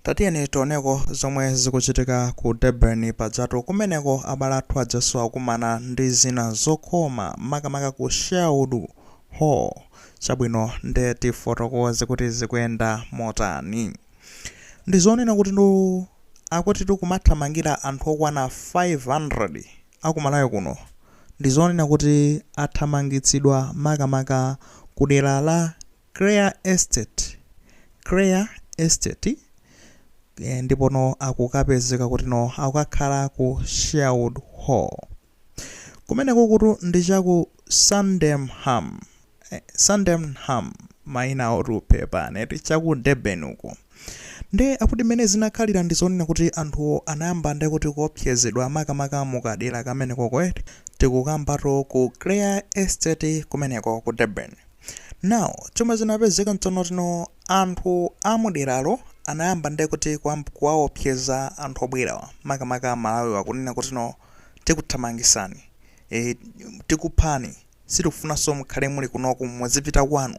Tatiyeni toneko zomwe zikuchitika ku Durban pajatu kumeneko abale athu aja akumana ndi zinazokoma makamaka ku Sherwood Hall chabwino nde tifotokoze kuti zikuyenda motani. Ndizonena kutino akuti tikumathamangira anthu okwana 500 aku Malawi kuno ndizonena kuti athamangitsidwa makamaka kudera la. Clare Estate Clare Estate eh, ndipono akukapezeka kutino akukakhala ku Sherwood Hall kumenekokutu ndi chaku Sydenham eh, Sydenham maina ovuta pepani eti chaku Durban uko Nde akuti mmene zinakhalira ndi zonena kuti anthuwo anayamba nde kuti kuopsezedwa makamaka mu kadera kamenekoko eti tikukambatu ku Clare Estate kumeneko ku Durban. Now chomwe chinapezeka nchonoti no anthu a mu deralo anayamba nde kuti kuwaopseza anthu obwerawa makamaka a Malawiwa kunena kutino tikuthamangisani, eeh tikuphani, sitikufunanso mukhale muli kunoku muzipita kwanu.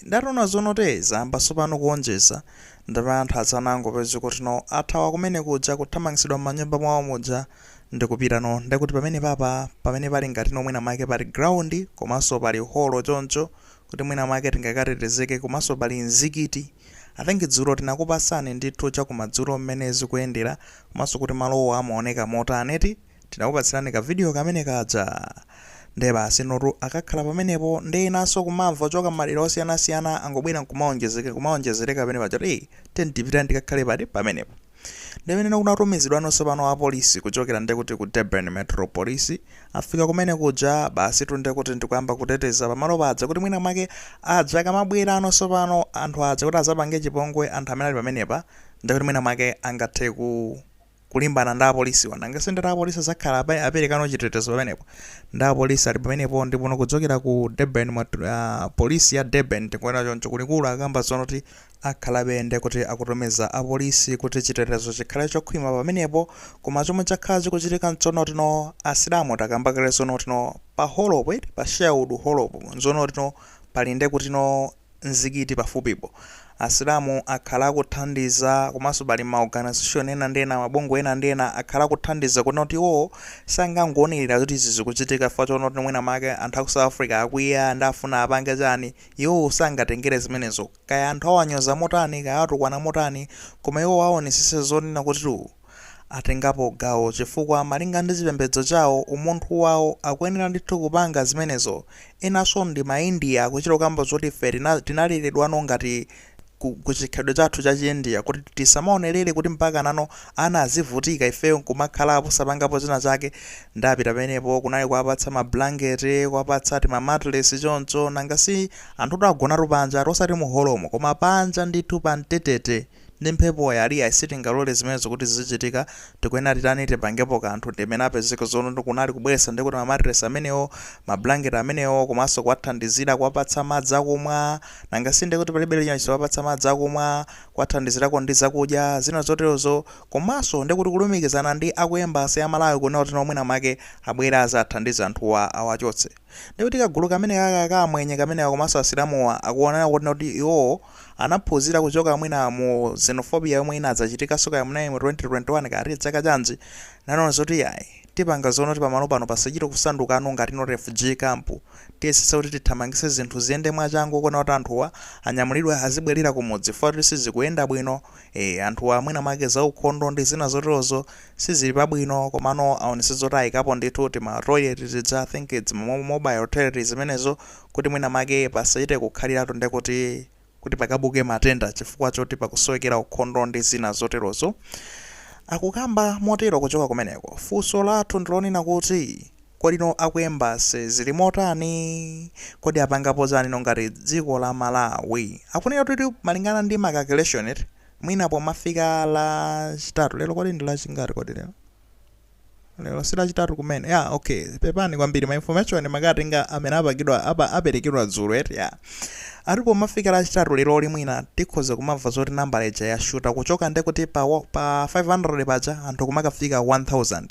Nde ataona zonoti zayamba tsopano kuonjeza ndipo anthu anangopezeka kuti no athawa kumene kuja kuthamangitsidwa m'manyumba mwawo muja ndikupita no nde kuti pamene papa pamene pali ngati no mwina mwake pali ground komanso pali holo choncho kuti mwina mwake tingakatetezeke komanso pali mzikiti I think dzulo tinakupatsani ndithu chakumadzulo mmene zikuyendera komanso kuti malowo amaoneka motani eti Tinakupatsirani ka video kamene kaja nde basi notu akakhala pamenepo nde enanso kumamva kuchoka mmadera osiyanasiyana angobwera nkumaonjezeka kumaonjezereka pamene paja kuti hey tiyeni tipiteno tikakhale pati pamenepo nde pamene kunatumizidwano tsopano apolisi kuchokera nde kuti ku Durban Metro Police afika kumene kuja basitu nde kuti ndikuyamba kuteteza pamalo paja kuti mwina mwake aja akamabwerano tsopano anthu aja kuti adzapange chipongwe anthu amene ali pamenepa nde kuti mwina mwake angathe ku kulimbana ndi apolisiwa nanga si ndati apolisi adzakhala apa- aperekano chitetezo pamenepo ndi apolisi ali pamenepo ndipo ndikudzokera ku durban mwa ah, polisi ya durban tikuona choncho kulikulu akamba zonoti akhalabe nde kuti akutumiza apolisi kuti chitetezo chikhale chokhwima pamenepo koma chomwe chakhala chikuchitika nchonoti no asilamu takamba kale zonoti no pa holopo eti pa Sherwood holopo nzonoti no pali nde kutino mzikiti pafupipo. Asilamu akhala akuthandiza komanso pali ma organisation ena ndi ena, mabungwe ena ndi ena akhala akuthandiza kunena kuti iwowo sangangoonerera zoti izi zikuchitika chifukwa choona kuti mwina mwake anthu aku South Africa akwiya nde afuna apange chani, iwowo sangatengere zimenezo. Kaya anthu awanyoza motani, kaya awatukwana motani, koma iwowo aonesese zonena kuti. atengapo gawo chifukwa malinga ndi chipembedzo chawo, umunthu wawo, akuyenera ndithu kupanga zimenezo. Enanso ndi ma India akuchita kukamba zoti ife tinaleredwano ngati ku chikhalidwe chathu cha chi India kuti tisamaonelere kuti mpakanano ana azivutika ifeyo nkumakhalapo osapangapo china chake nde apita pamenepo kunali kuwapatsa ma blanket, kuwapatsa tima mattress choncho nanga si anthutu agonatu panjatu osati mu holomo koma panja ndithu pa mtetete. ndi mphepo ya Ria sitingalole zimenezo kuti zizichitika, tikuyenera titani tipangepo kanthu ndimene apezeke zoona kunali kubweretsa ndekuti ma mattress amenewo, ma blanket amenewo komanso kuwathandizira kuwapatsa madzi akumwa nanga sindekuti palibe china chilichonse kuwapatsa madzi akumwa, kuwathandizirako ndi zakudya, zina zoterozo komanso ndekuti kulumikizana ndi aku embassy ya Malawi kunena kuti no mwina mwake abwere azathandize anthuwa awachotse. Ndiye kuti kagulu kameneka ka, ka Amwenye kameneka komanso Asilamuwa akuwonana kuti iwowo anaphunzira kuchoka mwina mu xenophobia yomwe inadzachitikanso kaya munali mu 2021 kaya ati chaka chanji, nanena zoti iyayi, tipanga zoti pamalo pano pasachite kusandukano ngatino refugee camp, tiyesetse kuti tithamangitse zinthu ziyende mwachangu kuwona kuti anthuwa anyamulidwe azibwerera kumudzi chifukwa choti sizikuyenda bwino, Eee anthuwa mwina mwake za ukhondo ndi zina zoterozo sizili pabwino komano aonetse zoti ayikapo ndithu tima toilet tija I think it's mo- mobile toilet zimenezo kuti mwina mwake pasachite kukhaliratu nde kuti kuti pakabuke matenda chifukwa choti pakusowekera ukhondo ndi zina zoterozo. Akukamba motero kuchoka kumeneko. Funso lathu ndilonena kuti. Kodi no a ku embassy zili motani? Kodi apangapo chani no ngati dziko la Malawi? Akunena kuti malingana ndi ma calculation eti, mwina pomafika la chitatu, lero kodi ndi la chingati kodi lero? Lero si la chitatu kumene? Ya, okay, pepani kwambiri ma information makatenga amene apagidwa, apa, aperekedwa dzulo eti, ya. Ati pomafika la chitatu leroli mwina tikhoza kumamva zoti nambala ija yashuta kuchoka ndekuti pa, pa 500 paja anthu kumakafika 1000.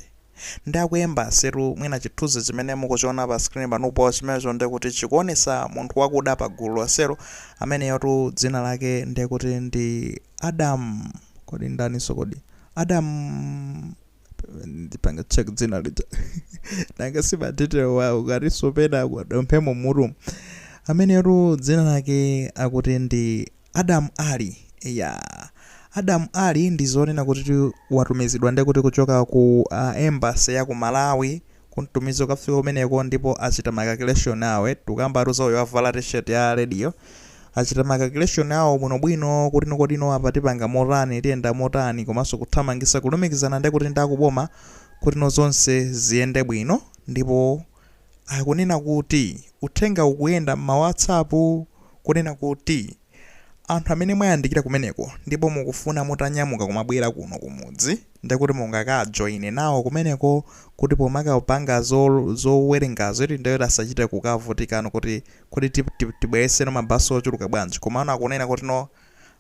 Nde aku embassy tu mwina chithunzi chimene mukuchiona pa screen panupo chimenecho nde kuti chikuonesa munthu wakuda pa gulu lonselo ameneyotu dzina lake nde kuti ndi Adam kodi ndaniso kodi Adam ndipange check dzina lija nanga si ma detail wa ukatiso pena kwadodoma mmutumu ameneyotu dzina lake akuti ndi Adam Alli eyaa Adam Alli ndi zonena kuti watumizidwa nde kuti kuchoka ku embassy ya ku Malawi kumtumiza kukafika kumeneko ndipo achita ma calculation awo eti tikukambatu za uyu wavala T-shirt ya red yo achita ma calculation awo bwinobwino kuti no kodi no apa tipanga motani tiyenda motani komanso kuthamangisa kulumikizana nde kuti ndi akuboma kuti no zonse ziyende bwino ndipo Akunena kuti uthenga ukuyenda m'ma WhatsApp kunena kuti anthu amene mwayandikira kumeneko ndipo mukufuna mutanyamuka kumabwera kuno kumudzi ndekuti mungakajoine nawo kumeneko kuti pomakapanga zowerengazo eti ndekuti asachite kukavutikano kuti kodi tibweretse no mabasi ochuluka bwanji komano akunena kuti no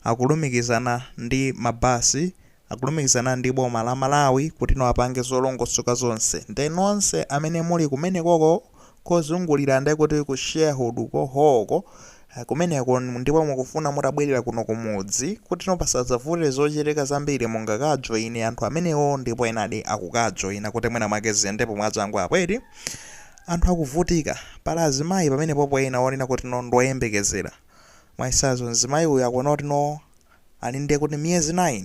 akulumikizana ndi mabasi akulumikizana ndi boma la Malawi kutino apange zolongosoka zonse nde nonse amene muli kumenekoko kozungulira nde kuti ku sharehood ko hoo ko kumeneko ndipo mukufuna mutabwelera kuno kumudzi kutino pasadzavute zochitika zambiri mungakajoine anthu amenewo ndipo enadi akukajoina kuti mwina mwake ziyendepo mwachangu apo eti anthu akuvutika pali azimayi pamenepopo ena onena kutino ndioyembekezera mwachitsanzo mzimayi uyu akuona kutino Ali ndiye kuti miyezi 9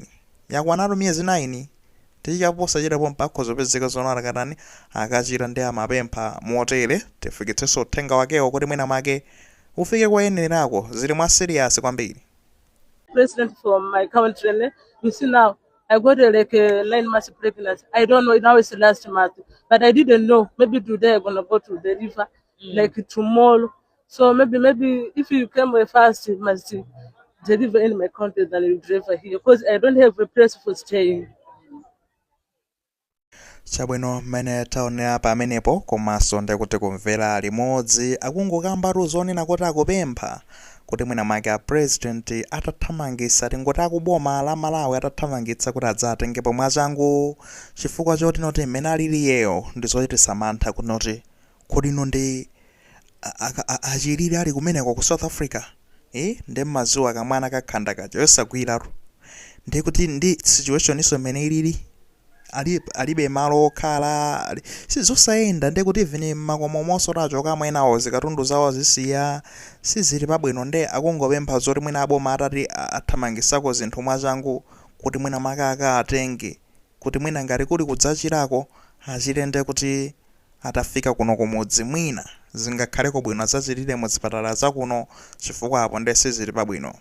yakwanatu miyezi 9 achita posachedwa pompa akhoza kupezeka zono atakatani akachita ndiye amapempha motere tifikitsenso uthenga wakewo kuti mwina mwake ufike koyenererako zili mwa serious kwambiri. president from my country ne you see now i got uh, like uh, nine months pregnancy i don't know now it's last month but i didn't know maybe today i'm gonna go to deliver like tomorrow So maybe maybe if you come very fast, you must deliver in my country than you deliver here because I don't have a place for staying. chabwino mmene taonera pamenepo komanso ndikuti kumvera limodzi akungokambatu zoona kuti akupempha kuti mwina mwake a president atathamangitsa tingoti akuboma la malawi atathamangitsa kuti adzatengepo mwachangu chifukwa choti noti mmene aliliyeyo ndizochititsa mantha kuti noti Kodi no ndi achilire ali kumeneko ku south africa ee nde mmaziwa kamwana kakhanda kaja yosagwiratu nde kuti ndi situationinso mmene ilili ali alibe malo okhala ali sizosayenda nde kuti even mmakomomonso atachokamo enawo zikatundu zawo anazisiya sizili pabwino nde akungopempha zoti mwina aboma atati athamangisako zinthu mwachangu kuti mwina mwake akawatenge kuti mwina ngati kuli kudzachilako achile nde kuti atafika kuno kumudzi mwina zingakhaleko bwino adzachilire mu zipatala za kuno chifukwa apo nde sizili pabwino.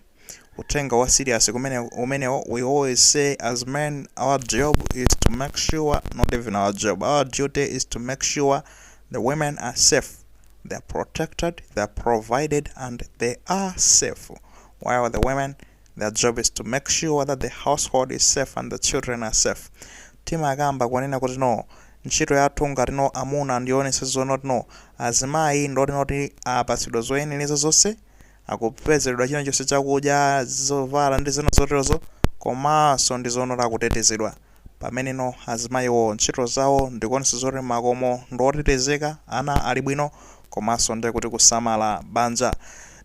Uthenga wa serious kumene umenewo we always say as men our job is to make sure not even our job our duty is to make sure the women are safe they're protected they're provided and they are safe while the women Their job is to make sure that the household is safe and the children are safe. Timakamba kunena kuti no ntchito yathu ngati no amuna ndi kuonetsa zonoti no azimayi ndoti noti apatsidwa zoyenereza zonse akupezeredwa china chonse chakudya zovala ndi zina zoterozo komanso ndi zonoti akutetezedwa Pameneno azimayiwo ntchito zawo ndikuonetsa zoti makomo ndi otetezeka, ana ali bwino komanso ndiye kuti kusamala banja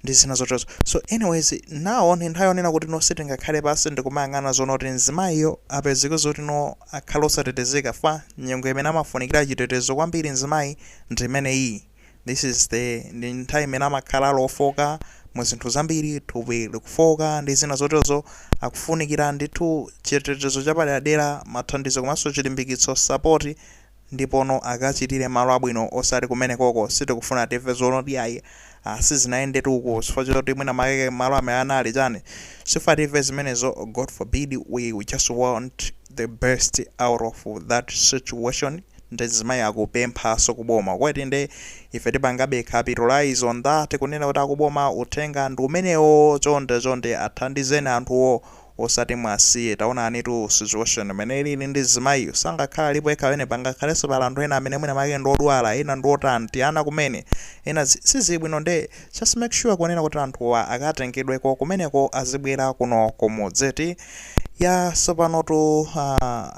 ndi zina zoterozo. So anyways, now ndi nthawi yonena kuti no sitingakhale pansi ndikumayang'ana zonoti mzimayiyo apezeke zoti no akhale osatetezeka fukwa nyengo imene amafunikira chitetezo kwambiri mzimayi ndi imeneyiyi. This is the ndi nthawi imene amakhala ali wofooka mu zinthu zambiri, thupi likufooka ndi zina zoterozo, akufunikira ndithu chitetezo chapaderadera, mathandizo komanso chilimbikitso, support, ndipono akachitire malo abwino osati kumenekoko sitikufuna timve zonoti iyayi ah sizinayendetu uku chifukwa choti mwina make malo amene anali chani sifuna timve zimenezo God forbid we just want the best out of that situation. nde mzimayi akupemphaso ku boma kuti nde ife tipangabe capitalize on that kunena kuti akuboma uthenga ndi umenewoo chonde chonde athandizeni anthuwo osati mwasiye taonanitu situation mene ilili ndi mzimayiyu sangakhale alipo ekha pamene pangakhaleso pali anthu ena amene mwina make ndi odwala ena ndi otani ti ana kumene ena sizili bwino nde just make sure kunena kuti anthuwa akatengedweko kumeneko azibwera kuno kumudzi ti ya tsopanotu uh,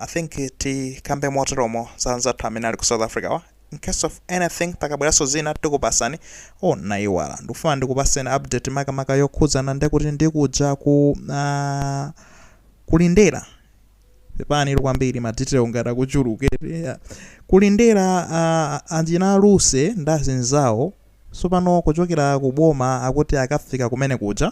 i think tikambe moteromo za anzathu amene ali ku south africa wa in case of anything pakabweranso zina tikupatsani oh ndayiwala ndikufuna ndikupaseni update makamaka yokhudzana ndi kuti ndikuja ku uh, kulindera pepani kwambiri madetail ngati akuchulukire kulindera uh, anjina aluse ndazinzawo Tsopano kuchokera ku boma akuti akafika kumene kuja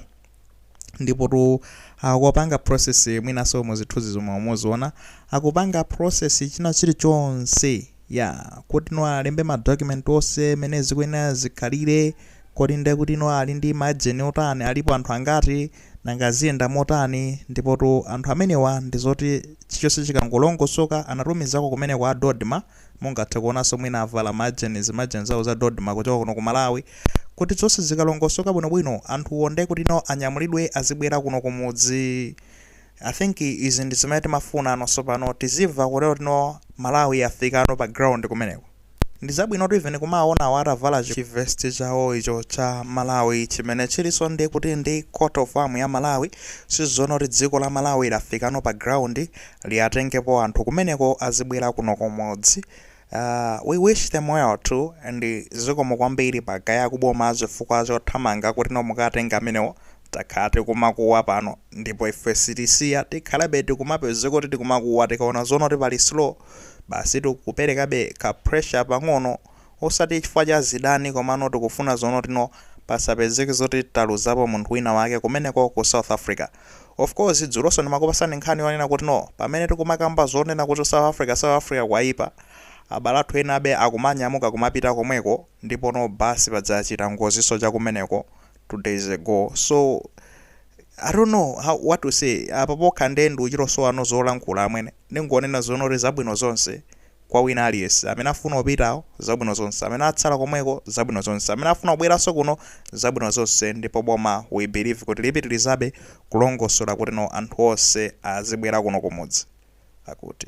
ndipotu akupanga process mwinanso mu zithunzi zomwe muziona akupanga process china chilichonse ya kuti no alembe ma document onse mene zikuyenera zikhalire kodi ndi kuti no ali ndi ma agent otani alipo anthu angati nanga ziyenda motani ndipotu anthu amenewa ndi zoti chilichonse chikangolongosoka anatumizako kumeneko a Dodma Mungathe kuonanso mwina avala ma jersey, ma jersey awo za Dodma kuchoka kuno ku Malawi. Kuti zonse zikalongosoka bwino bwino, anthuwo nde kuti no anyamulidwe azibwera kuno ku mudzi. I think izi ndi zimene timafunano tsopano, tizimva kutero kuti no Malawi yafikano pa ground kumeneko. Ndi zabwinotu even kumawaona awa atavala chi vest chawo icho cha Malawi chimene chilinso ndi kuti ndi coat of arms ya Malawi. Tizoona kuti dziko la Malawi lafikano pa ground. liatengepo anthu kumeneko azibwera kuno kumudzi uh, we wish them well too and zikomo kwambiri ma guy a kuboma chifukwa chothamanga kuti no mukatenge amenewo takhala tikumakuwa pano ndipo ife sitisiya tikhalabe tikumapezeka kuti tikumakuwa tikaona zonoti pali slow basi tikuperekabe ka pressure pang'ono Osati chifukwa cha zidani komano tikufuna zonoti no pasapezeke zoti taluzapo munthu wina wake kumeneko ku South Africa. Of course dzuloso ndimakupasani nkhani yonena kuti no pamene tikumakamba zonena kuti South Africa South Africa kwayipa abale athu ena abe akumanyamuka kumapita komweko ndipo no bus paja yachita ngoziso cha kumeneko two days ago so I don't know what to say apa pokha nde ndikuchito sowano zolankhula amwene ndingonena zonoti zabwino zonse kwa wina aliyense, amene afuna opitawo, zabwino zonse, amene atsala komweko, zabwino zonse, amene afuna kubweranso kuno, zabwino zonse, ndipo boma we believe kuti lipitirizabe kulongosola kuti no anthu onse azibwera kuno kumudzi. Akuti.